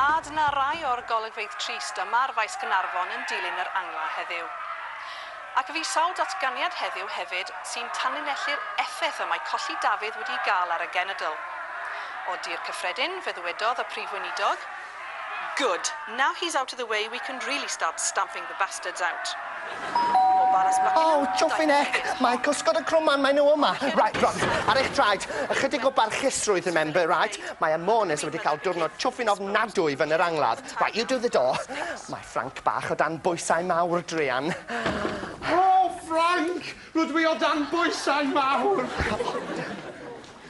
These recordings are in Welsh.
A dyna rai o'r golygfeydd trist yma ar Faes Gaernarfon yn dilyn yr angla heddiw. Ac fi sawl datganiad heddiw hefyd sy'n tanlinellu'r effaith y mae colli Dafydd wedi'i gael ar y genedl. O dir cyffredin, fe ddywedodd y Prif Weinidog, Good. Now he's out of the way we can really start stamping the bastards out. O balas Buckingham. Oh, Joffin Eck! Mae cysgod y crwman, maen nhw yma! Right, right, ar eich traed! Ychydig o barchusrwydd, remember, right? Mae Amones wedi cael diwrnod chwfin ofnadwy fan yr angladd. Right, you do the door. Mae Ffranc bach o dan bwysau mawr, druan. O, Ffranc! Rydw i o dan bwysau mawr!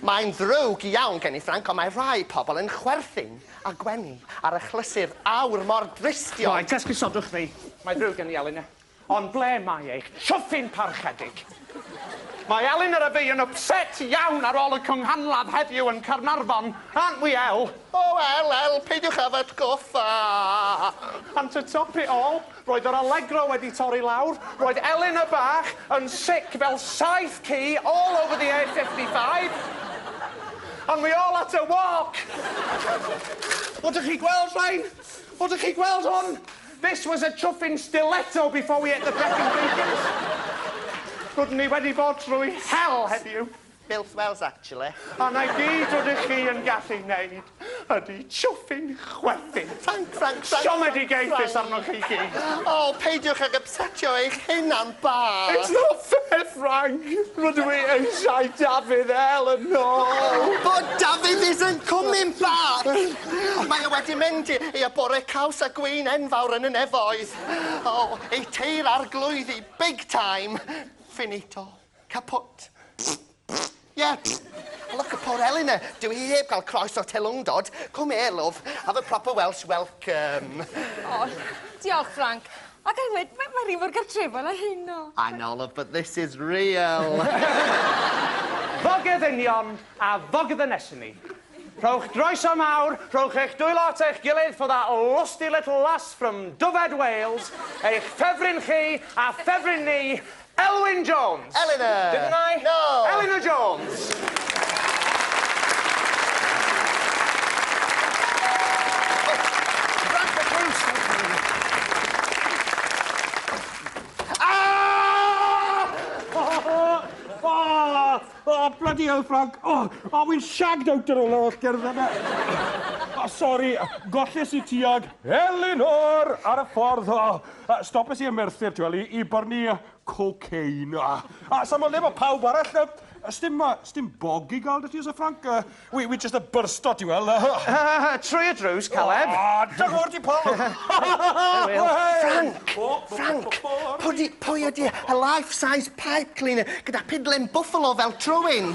Mae'n ddrwg iawn gen i, Ffranc, ond mae rhai pobl yn chwerthin. A gwenu ar achlysur aur mor drystiol! Rhaid esgusodwch fi! Mae ddrwg gen i, Elin. Ond ble mae eich chwfin parchedig? Mae Elin yr Efi yn ypset iawn ar ôl y cynghanladd heddiw yn Caernarfon, aren't we El? O El, El, peidiwch â fy atgoffa! Ond to top it all, Roedd yr Allegro wedi torri lawr, roedd Elin y bach yn sic fel saeth ci all over the A55, and we all had to walk! O dych chi gweld rhain? O dych chi gweld hwn? This was a chuffing stiletto before we ate the brecon bacon! Roeddwn i wedi bod trwy hell heddiw! Milf wells actually. A 'na i gyd rydych chi yn gallu wneud ydi chwthi'n chwerthin. Ffranc, ffranc, ffranc! Siomedigaethus arnoch chi gyd! O, peidiwch ag ypsetio eich hunan bach! It's not fair, Ffranc! Rydw i eisiau Dafydd El yn ôl! But Dafydd isn't coming back! Mae o wedi mynd i i y bore caws a gwin enfawr yn y nefoedd. O, ei teir arglwyddi big time! Finito. Capot. Ie. A look at poor Eleanor. Dyw hi heb gael croes o'r telwngdod. Come here, love. Have a proper Welsh welcome. O, diolch, Frank. A ga'i ddweud, mae mae rhi mor gartrefol â hyn, o. I know, love, but this is real. Fog y ddynion a fog y ddynesyn ni. Rhowch groeso mawr, rhowch eich dwylo at eich gilydd for that lusty little lass from Dyfed, Wales, eich ffefryn chi a ffefryn ni, Elwyn Jones! Elinor! Didn't I? No! Elinor Jones! Ahh! Ahh! Ahh! Oh, bloody hell, Frank! Oh, oh, wy'n shagged out ar ôl yr holl gerdd yna. Oh, sori, golles i tuag Elinor ar y ffordd. Oh, uh, stopes i yn Merthyr, ti'n i, i byrnu cocaine. Ah, oh, sa'n modd le mae pawb arall. Uh, stim, uh, stim bog i gael dy ti, Sir Frank. Uh, Wi, wi jyst y byrsto ti wel. Trwy y drws, Caleb. O, da gwr di Paul. Frank! Frank! Pwdi, pwy ydi a life size pipe cleaner gyda pidlen buffalo fel trwyn?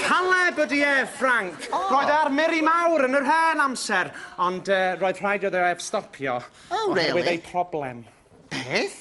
Caleb ydi e, Frank. Roedd e ar Miri Mawr yn yr hen amser, ond roedd rhaid iddo ef stopio. O, rili? Oherwydd ei problem. Beth?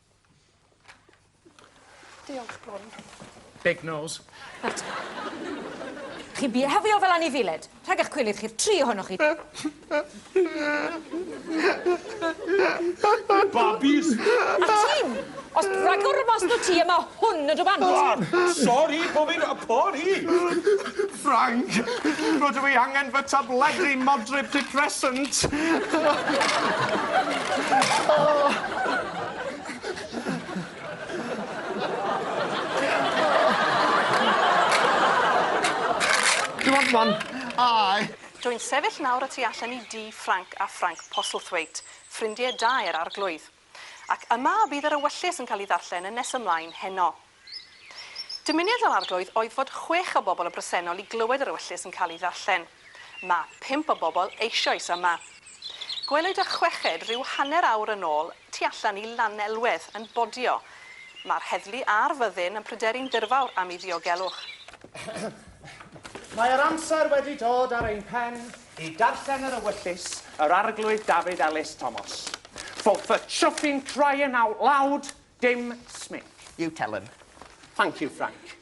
Diolch, Bron. Big nose. Nawr te. Chi'n bihefio fel anifiled. Rhag eich cwilydd chi'r tri ohonoch chi. Babis! A ti'n? Os ragor o mas o ti yma Hwn ydw bant! O! Sori, bo fi'n yy pori! Ffrainc! Rydw i angen fy tabledi modryb depressant! Do you want one? Aye! Dw i'n sefyll nawr y tu allan i dŷ Ffrainc a Ffrainc Postlethwaite, ffrindie da i'r Arglwydd. Ac yma bydd yr ewyllys yn cael ei ddarllen yn nes ymlaen heno. Dymuniad yr Arglwydd oedd fod chwech o bobl y bresennol i glywed yr ewyllys yn cael ei ddarllen. Mae pump o bobl eisioes yma. Gwelwyd y chweched rhyw hanner awr yn ôl tu allan i Lanelwedd yn bodio. Mae'r heddlu a'r fyddin yn pryderu'n ddirfawr am ei ddiogelwch. Mae'r amser wedi dod ar ein pen I darllen yr ewyllys, yr Arglwydd David Ellis Thomas. For the chuffing crying out loud, dim Smith. You tell him. Thank you, Frank.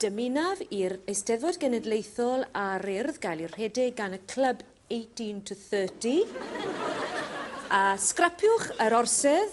Dymunaf i'r Eisteddfod Genedlaethol a'r Urdd gael eu rhedeg gan y clwb 18 to 30. A sgrapiwch yr orsedd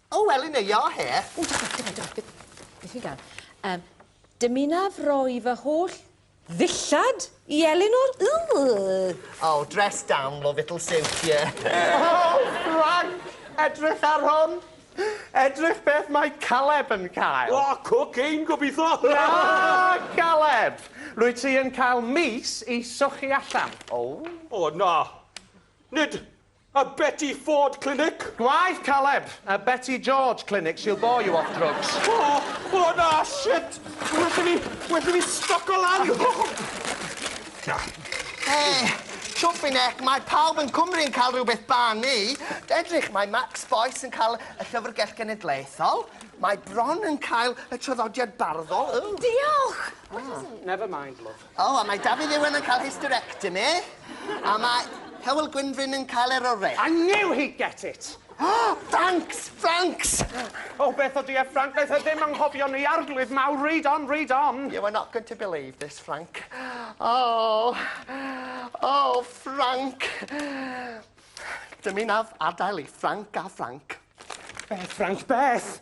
O, wel, yn eia o he. O, da, da, da, da, beth, beth fi'n gael? Um, dymunaf roi fy holl ddillad i Elinor. Oh, dress down, love, it'll suit you. oh, Frank, edrych ar hwn. Edrych beth mae Caleb yn cael. O, oh, cocaine, gobeithio. Na, Caleb. Rwy ti yn cael mis i sochi allan. O. Oh. O, oh, na. Nid A Betty Ford Clinic? Gwaith caled! A Betty George Clinic, she'll bore you off drugs. O! O na! Shit! Well i fi, well i fi stoco lan! Hey! Chwffi nec, mae pawb yn Cwmru yn cael rhywbeth banu. Edrych, mae Max Boyce yn cael y Llyfrgell Genedlaethol. Mae Bron yn cael y traddodiad barddol. Diolch! Never mind, love. O, a mae Dafydd Iwan yn cael hysterectomy, a mae Hywel Gwynfryn yn cael eroreth. I knew he'd get it! Oh, thanks, thanks! O, beth ydy e, Frank? Wnaeth e ddim anghofio ni, Arglwydd mawr, read on, read on! You are not going to believe this, Frank. Oh, oh, Frank! Dymunaf adael i Frank a Frank. Beth, Frank, beth?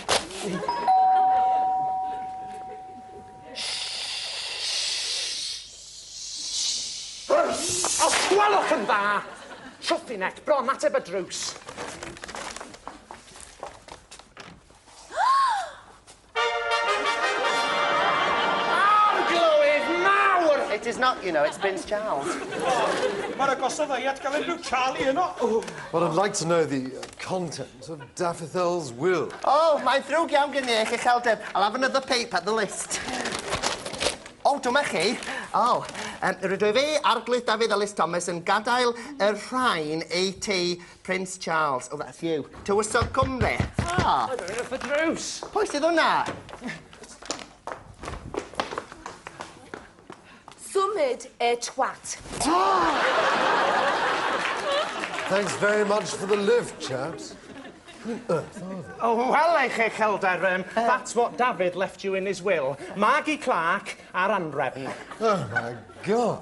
Os gwelwch yn dda, Trwthinet, bron ateb y drws. It is not, you know, it's Prince Charles. Mae'r agosaf ddau at gael ei byw Charlie yno. Well, I'd like to know the uh, content. Sir Dafyddl's Will. Oh, mae'n ddrwg iawn gen i eich uchelder. I'll have another paper at the list. O, oh, dyma chi. O, oh, um, rydw i fe, Arglwydd Dafydd Ellis Thomas, yn gadael y rhain ei ti Prince Charles. Oh, that's you. Tywysog Cymru. Ah. Oedd yn rhywbeth y drws. Pwy sydd hwnna? Symud e twat. Thanks very much for the lift, chaps. Pwy on earth are they? O, wel, ei cheicheldar, yym, that's what David left you in his will. Margie Clark a'r anrefn. Oh, my God.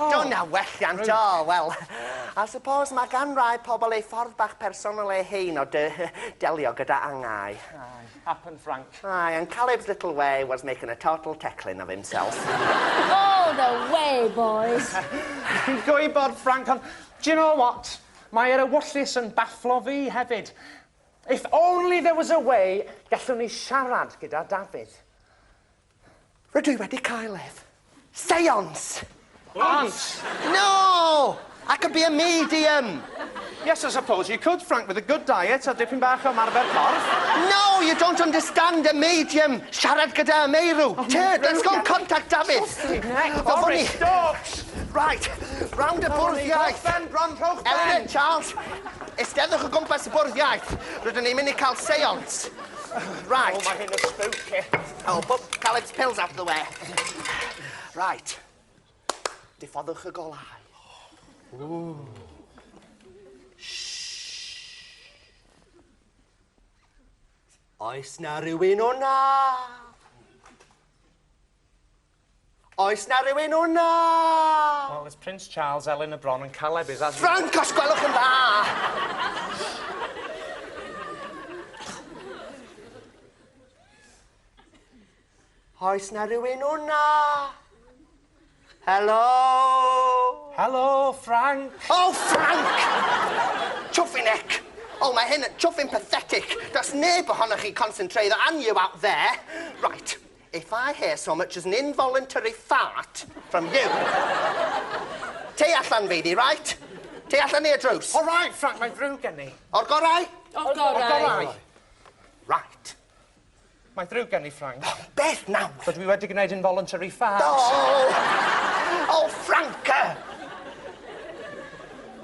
Do na welliant o, wel, I suppose mae gan rai pobl eu ffordd bach personol eu hun o de- delio gyda angau. Aye, happen Frank. Aye, and Caleb's little way was making a total teclyn of himself. All the way, boys! Fi'n gwybod, Frank, ond do you know what? Mae yr ewyllys yn bafflo fi hefyd. If only there was a way gallwn ni siarad gyda Dafydd. Rydw i wedi cael ef. Seance! Aunt! No! I could be a medium! Yes, I suppose you could, Frank, with a good diet a dipyn bach o marfer corff. No, you don't understand a medium! Siarad gyda y meirw! Oh, Tyd, let's go and contact David! Sorry, stop! Right, round y bwrdd iaith! Rhowch ben, Bron, rhowch ben! Elin, Charles, esteddwch o gwmpas y bwrdd iaith. Rydyn ni'n mynd i cael seance. Right. Oh, mae hyn yn spooky. Oh, pwp, cael its pills out of the way. Right. Diffoddwch y golau. Ooh. Oes na rhywun o'na? Oes 'na rywun wna? Wel, it's Prince Charles, Elin y Bron and Caleb is as... Frank, os gwelwch yn dda! Oes 'na rywun wna? Helo? Helo, Frank! O, oh, Frank! Twffi nec! O, oh, mae hyn yn twffi'n pathetic. Does neb ohonoch chi concentrate on you out there. Right. If I hear so much as an involuntary fart from you Tei allan, Feifi, right? Tei allan neu y drws. All right, Frank, mae'n ddrwg gen i. O'r gorau? O'r gorau. O'r gorau. Right. Mae'n ddrwg gen i, Frank. Oh, beth nawr? Dydw i wedi gwneud involuntary fart. Oh! Oh, Franca!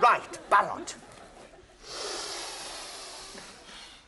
Right, barod.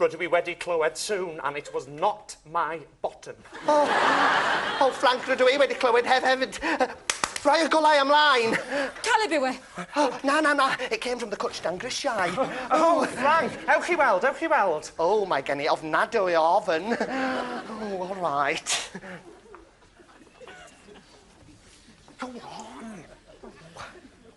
Rydw i wedi clywed sŵn and it was not my bottom. O! O Ffranc, rydw i wedi clywed hef hefyd. Rhoi y golau ymlaen! Caleb yw e! O, na, na, na, it came from the cwtsh dan grisiau. O, Ffranc! Ewch i weld, ewch i weld. O, mae gen i ofnadwy o ofn. O, all right. Go on!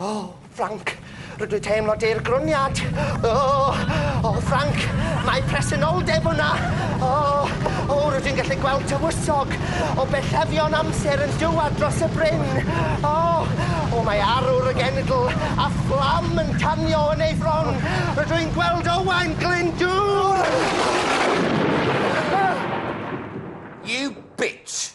O, Ffranc, rydw i teimlo deirgroniad. O, o, Ffranc, mae presenoldeb yna. O, o, rydw i'n gallu gweld tywysog o bellefion amser yn dywad dros y bryn. O, o, mae arwr y genedl a fflam yn tanio yn ei fron. Rydw i'n gweld Owain Glyndŵr! You bitch!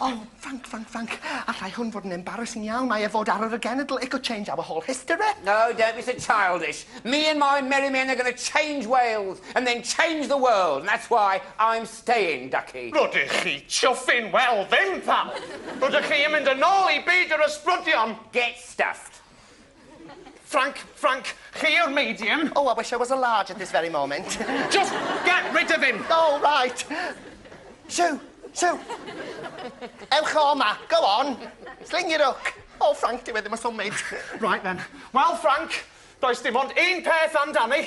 O, thank, thank, thank. Allai hwn fod yn embarrassing iawn, mae e fod ar yr genedl, it could change our whole history. No, don't be so childish. Me and my merry men are going to change Wales and then change the world, and that's why I'm staying, ducky. Rydych chi chuffing? Wel, ddim, pal. Rydych chi yn mynd yn ôl i byd yr ysbrydion. Get stuffed. Frank, Frank, chi yw'r medium. Oh, I wish I was a large at this very moment. Just get rid of him! Oh, right. Sue, Sue. Ewch o ma, go on. Sling your hook. Oh, Frank, dyw e ddim yn symud. Right then. Well, Frank, does dim ond un peth amdani.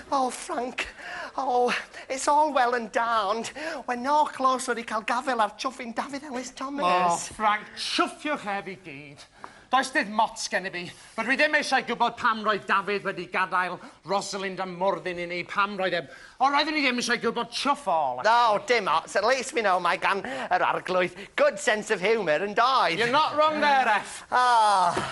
O, Ffrainc! O, it's all well and da, ond we're not close wedi cael gafael ar chwfin Dafydd Elis Thomas. O, Ffrainc, chwfiwch ef i gyd. Does dim ots gennyf i. Rydw i ddim eisiau gwybod pam roedd Dafydd wedi gadael Rosalind a Morfyn i ni, pam roedd e... O, roeddwn i ddim eisiau gwybod chwff all. O, dim ots, at least we know mae gan yr Arglwydd good sense of humour, yn doedd? You're not wrong there, Eff. O!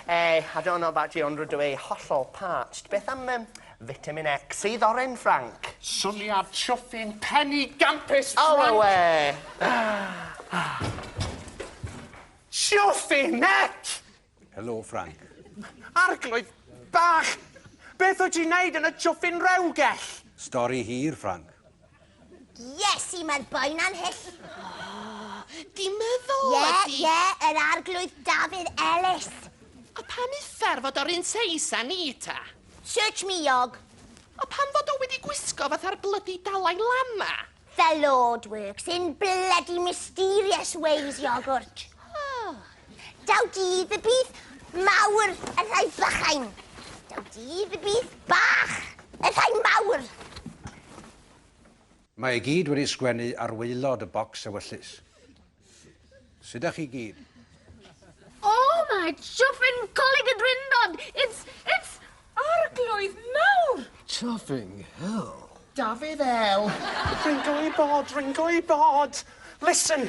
Ehh, I don't know about you ond rydw ei hollol parched. Beth am um, vitamin X? Sydd oren, Frank? Syniad chwthi'n pen i gampus, Frank! Oh, awe! Chwthi'n X! Helo, Frank. Arglwydd bach! Beth wyt ti'n neud yn y chwthi'n rewgell? Stori hir, Frank. Iesu, mae'r boi na'n hyll. Di meddwl Ie, ydi. ie, yr arglwydd Dafydd Ellis. A pam uffar fod o'r un seis â ni ta? Search me, Iog. A pam fod o wedi gwisgo fatha'r blydi Dalai Lama? The Lord works in bloody mysterious ways, Iogwrt. Daw dydd y bydd mawr yn rhai bychain. Daw dydd y bydd bach yn rhai mawr. Mae i gyd wedi sgwennu ar waelod y bocs ewyllys. Sut â chi gyd? Oh, mae Chuffin Coleg y Drindod! It's, it's arglwydd mawr! Chuffing hell. Dafydd El. Ringo i bod, ringo i bod. Listen,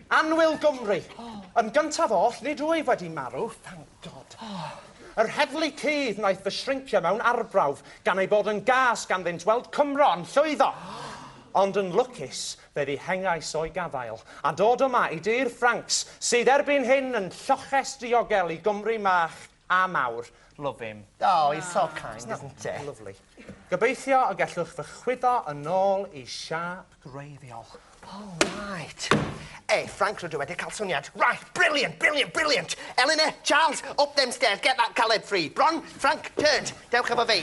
Anwyl Gymru. Yn gyntaf oll, nid wyf wedi marw, thank God. Yr heddlu cudd wnaeth fy shrincio mewn arbrawf, gan ei bod yn gas ganddynt weld Cymro yn llwyddo. Ond yn lwcus, fe ddihengais o'i gafael, a dod yma i dir Ffrancs, sydd erbyn hyn yn lloches diogel i Gymru mach. A mawr. Love him. Oh he's so kind isn't he? Lyfli. Gobeithio y gellwch fy chwyddo yn ôl i siâp gwreiddiol. Oh right. Ei, Ffrainc rydw wedi cael syniad. Right, brilliant, brilliant, brilliant! Elinor, Charles, up them stairs, get that Caleb free. Bron, Ffrainc, turned. Dewch efo fi.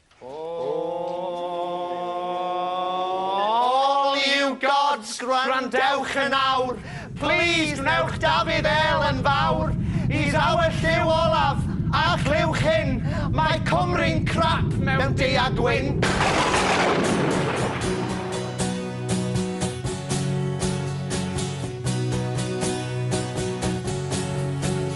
All you gods, gwrandewch yn awr, Plîs gwnewch Dafydd El yn fawr, He's our Llyw olaf, a chliwch hyn, Mae Cymru'n crap mewn du a gwyn.